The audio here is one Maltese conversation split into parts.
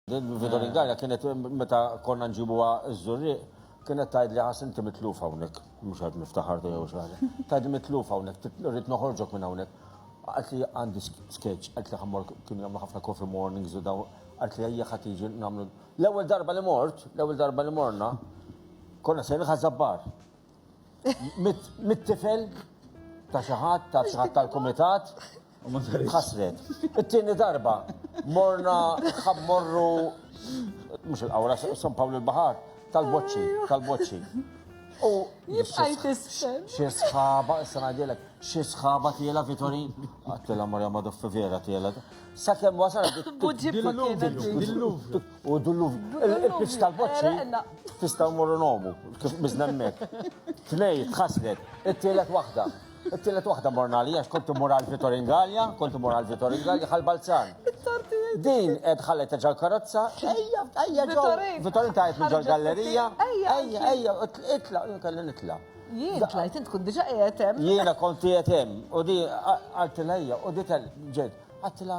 Vito Ringalja kienet meta konna nġibuha ż-żurriq kienet tajd li ħas inti mitluf hawnhekk, mhux qed niftaħar jew xaħġa. Tajd mitluf hawnhekk, rrid noħorġok minn hawnhekk. Qalt li għandi sketch, qalt li ħammor kien jagħmlu ħafna coffee mornings u daw, qalt li ejja ħadd jiġi nagħmlu. L-ewwel darba li mort, l-ewwel darba li morna, konna se ħażabbar. Mit-tifel ta' xi ħadd, ta' xi ħadd tal-kumitat, Ħasret. It-tieni darba morna ħammorru mhux il-qawra San Pawl il-Baħar tal-boċċi, tal-boċċi. U jibqaj tisfel. Xi sħaba, issa ngħidilek, xi sħaba tiela Vitorin. Għattila Marja Madoffi vera tiela. Sa kemm wasal U dulluvi. Il-pizz tal-boċċi tista' mmorru nomu, kif biżnemmek. Tnej, tħaslet, it-tielet waħda. It-tielet waħda morna li għax kont immur għal Vitor Ingalja, kont immur għal Vitor Ingalja għal Balzan. Din qed ħallet ġol karozza, ejja, ejja ġol. Vitor inta qed ġol gallerija. Ejja, ejja, ejja, itla, kelli nitla. Jien tlajt int kont diġa qiegħed hemm. Jiena kont qiegħed hemm u di għaltilha u di ġed. Għattilha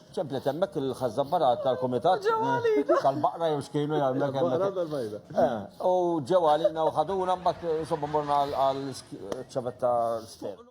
ċemplet hemmhekk il-ħażżabbarat tal-kumitat tal-baqra jew x'kienu jagħmlek hemmhekk. Eh, u ġew għalina u ħaduna mbagħad insomma morna għal ċavetta sfer.